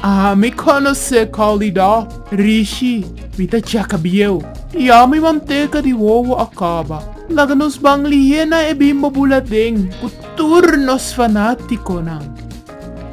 Aha, mi conoce Calidá, Rishi, mi ta checa bieu. Ya mi manteca di wowo a caba. Laga nos ban liena e Bimbo Buladen cu tur nos fanaticonan.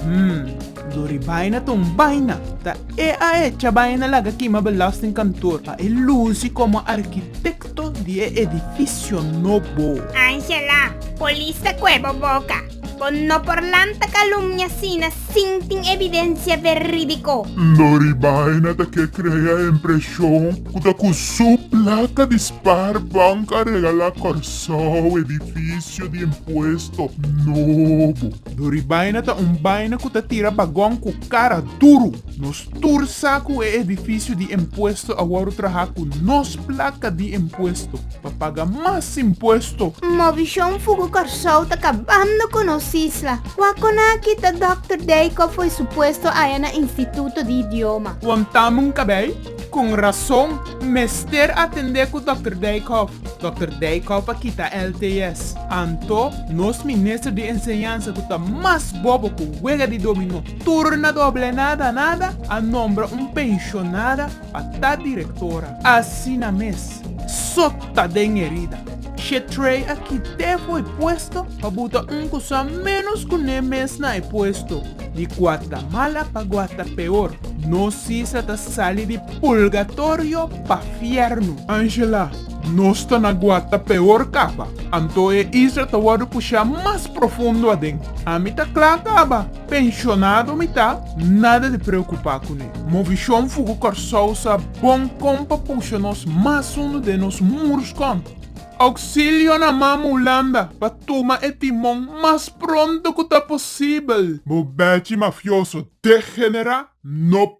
Hm, Dori Baina ta un baina. Ta e a echa baina laga kima belastingkantoor pa e luci como arquitecto di e edificio nobo. Angela, polis ta cuebo boca. Con no por lanta calumnia asina sin tin evidencia veridico. Lo ribaina ta ke crea e impresion cu ta cu su placa di spaar bank a regala Corsou edificio di impuesto nobo. Lo ribaina ta un baina cu ta tira bagon cu cara duru. Tur sa cu e edificio di impuesto a worde traha cu nos placa di impuesto pa paga mas impuesto. Movision Fugu Corsou ta cabando cu nos isla. Wacona aki ta Doctor Deico fo'i su puesto aya na Instituto di Idioma. Wan tamen cabey, con razon, mester atende cu Doctor Deico. Doctor Deico pa kita LTS. Anto, nos Minister di Enseñansa cu ta mas bobo cu wega di dominó. Tur na doble nada nada a nombra un penshonada pa ta direktora. Asina mes, sota den erida, she tray a kité for e puesto pa buta un ku sa ménos ku né mes na e puesto. Di Guatamala pa Guata peor, no si sa ta sali di pulgatorio pa fiernu. Angela, Nos ta na Guata peor kaba, anto e isla ta wòrdu pushá mas profundo aden. Ami ta kla kaba. Penshonado mi ta, nada di preokupá kuné. Movishon Fugu Kòrsou sa bon kon pa pusha nos mas hundu den nos murus kon. Ouksilio na Mama Hulanda pa tuma e timon mas pronto ku ta posibel! Bo bèchi mafioso degenerá no